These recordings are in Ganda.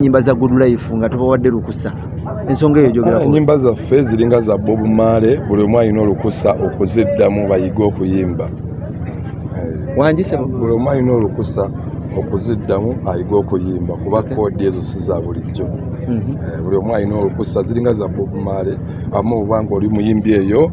nyimba za good life nga tubawadde lukusa ensonga eyo jogera enyimba ah, zaffe ziringa za bob male buli omu alina olukusa okuziddamu bayige okuyimba wanjise buli omu alina olukusa okuziddamu ayige okuyimba kuba koodi ezo si za bulijjo mhm. eh, buli omu alina olukusa ziringa za bob male amu obanga oli muyimbi eyo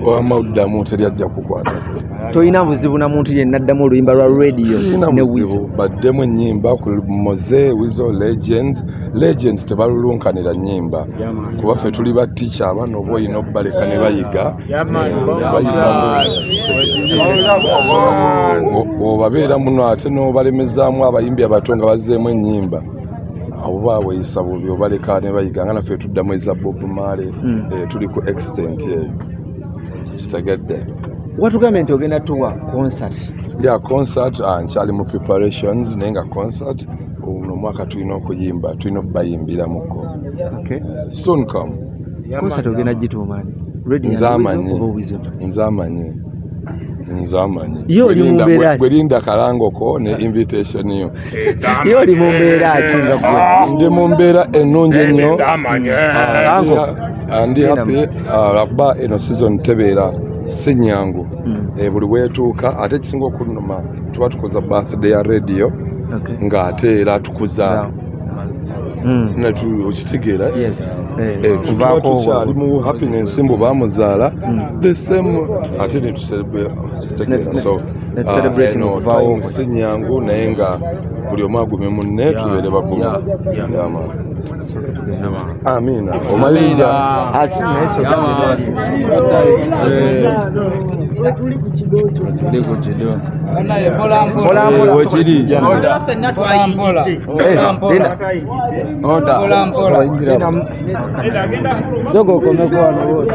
wamuddamu teri ajja kukwatako tolina buzibu na muntu yenna addamu oluyimba lwa radio ne wizo baddemu ennyimba ku moze wizo legends legends tebalulunkanira nnyimba kuba ffe tuli ba ticha abaana oba olina okubaleka ne bayiga obabeera muno ate n'obalemezaamu abayimbi abato nga bazzeemu ennyimba oba weyisa bubi obaleka ne bayiga nga naffe tuddamu eza bob male hmm. eh, tuli ku extent eyo kitagadde watugambye nti ogenda tuwa concert ya concert ah, nkyali mu preparations naye nga concert uno mwaka tulina okuyimba tulina okubayimbiramuko okay. soon come concert ogenda gituumani nze amanyi nze amanyi nze amanyi gwelinda kalangoko ne invitation yo ye oli mu mbeera ki nga gwe ah. ndi mu mbeera ennungi ennyo ndi happy ah, lwakuba eno season tebeera si nnyangu hmm. eh, buli weetuuka ate ekisinga okunuma tuba tukoza birthday ya radio ng'ate era tukuza Mm. okitegeera eh, eh, tuba tukyali mu happiness mbu bamuzaala mm. the same ate netuseetegeera so ah, si nyangu naye nga buli omu agume munne tubeere bagumu amiina omaliriza soka okomeko wano wose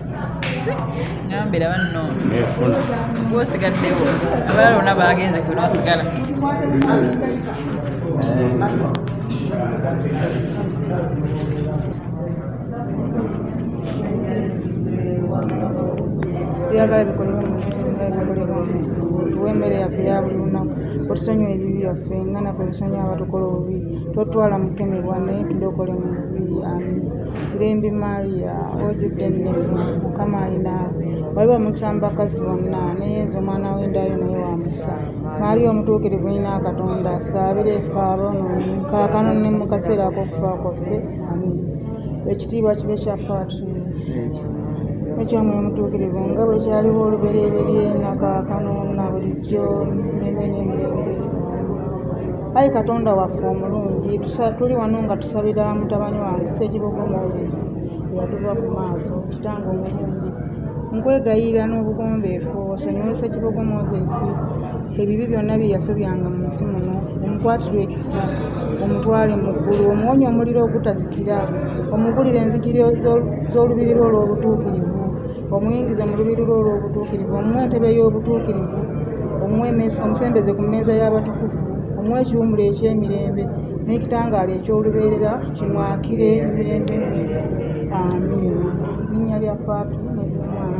ngambira banno gwosigaddewo abalala bona bagenze gwe nosigala byagala bikolebwa mu bisinga ebikolebwa tuwe emmere yaffe ya buli lunaku otusonyiwa ebibi byaffe nga naffe tusonyiwa abatukola obubi totwala mukemebwa naye tudokolemu Limbi Maria ojudde ennemwe mukama alina bali bamutamba kazi bonna ne yezu omwana w'endaayo naye wa mukisa Maria omutuukirivu ina katonda saabira efe aboonoonyi kaakano ne mu kaseera ak'okufa kwaffe amin ekitiibwa kibe kya paatri ekyomwe omutuukirivu nga bwe kyaliwo olubereberye na kaakano na bulijjo neme n'emirembe Ayi Katonda waffe omulungi, tuli wano nga tusabira mutabani wange Ssekibogo Moses eyatuva ku maaso, kitange omulungi. Nkwegayirira n'obugonbeefu osonyiwe Ssekibogo Moses ebibi byonna bye yasobyanga mu nsi muno, omukwatirwe ekisa, omutwale mu ggulu, omuwonye omuliro ogutazikira, omugulire enzigiri z'olubiri lwo olw'obutuukirivu, omuyingize mu lubiru lwo olw'obutuukirivu omuwa entebe y'obutuukirivu omusembeze ku mmeeza y'abatukuvu omuwa ekiwumula eky'emirembe n'ekitangaala eky'olubeerera kimwakire emirembe amiina linnya lya faatu nebyomwana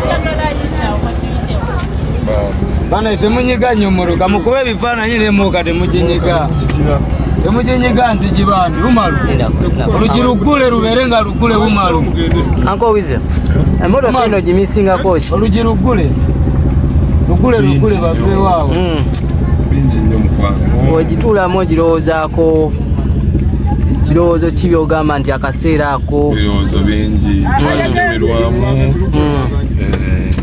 bana temunyiga nnyo muluka mukuba ebifaananyi nemuuka temukinyiga temukinyiga nzigi bambi umalu olugi luggule lubeere nga luggule umalu ankowize emotoka ino gimisingako ki olugi luggule luggule luggule baveewaawo hmm. bingi nnyo mukwano ogituulamu ogirowoozaako kirowoozo ki byogamba nti akaseera ako ebirowoozo bingi twanyumirwamu eh,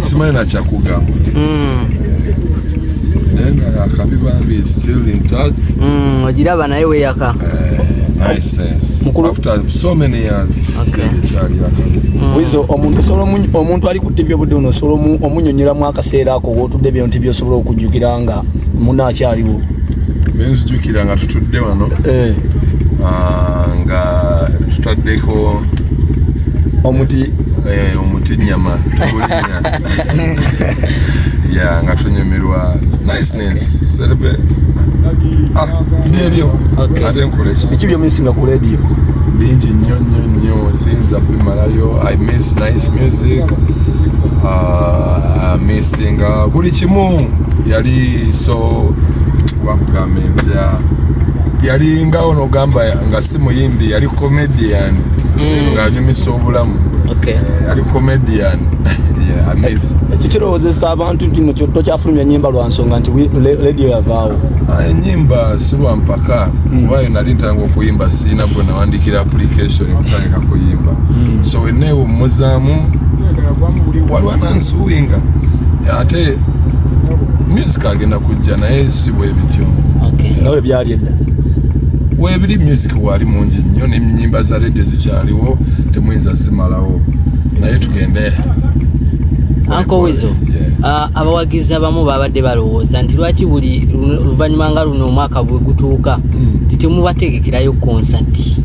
simanyi nakyakugamba hmm. naye nga akabi bambi still in touch hmm, ogiraba naye weyaka eh, wizo mm. omuntu ali ku tivi obudde buno osobola omunyonyolamu akaseera ako wotudde byo nti byosobola okujjukira nga muno akyaliwo benzijukira nga tutudde wano eh. ah, nga tutaddeko omuti eh, omuti nyama ya nga tunyumirwa niceness serbe ah, byebyo ate nkoleki biki byomisinga ku radio bingi nnyo nnyo nnyo sinza bimalayo i miss nice music uh, i miss kati nga buli kimu yali so wakugamba empya yali nga ono ogamba nga si muyimbi yali comedian mm. ng'anyumisa obulamu eh, yali comedian ekyo kirowozesa abantu nti mukyotto kyafulumya enyimba lwa nsonga nti lediyo yavaawo ah, enyimba si lwa mpaka mm. kuba yo nali ntanga okuyimba siina gwe nawandikira application okutandika kuyimba mm. so weneewummuzaamu waliwo tuwinga ate music agenda kujja naye si bwebityo nawe byali edda webiri music wali mungi nnyo nenyimba za radio zikyaliwo temuyinza zimalawo naye tugende ankowezo ah, abawagizi abamu babadde balowooza nti lwaki buli luvanyuma nga luno omwaka bwegutuuka hmm. titemubategekerayo konsati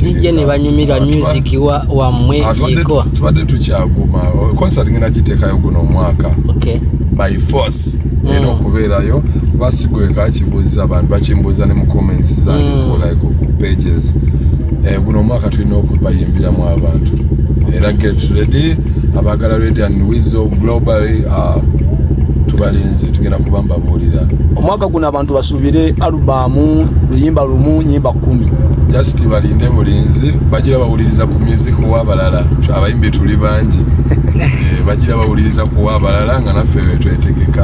nijja nebanyumirwa music wa wammwe ah, yego tubadde tukyaguma concert ngenda giteekayo guno omwaka okay. by force mm. era okubeerayo kuba sigweka kibuuza abantu bakimbuuza ne mu comments zangekolike mm. ku pages eh, guno omwaka tulina okubayimbiramu abantu era get ready abagala ready and wizo globally uh, tubalinze tugenda kuba mbabuulira omwaka guno abantu tubire alubamu luyimba lumu nyimba kumi just balinde bulinzi bagira bawuliriza ku music wabalala abayimbi tuli bangi eh, bagira bawuliriza ku wabalala nga naffe wetwetegeka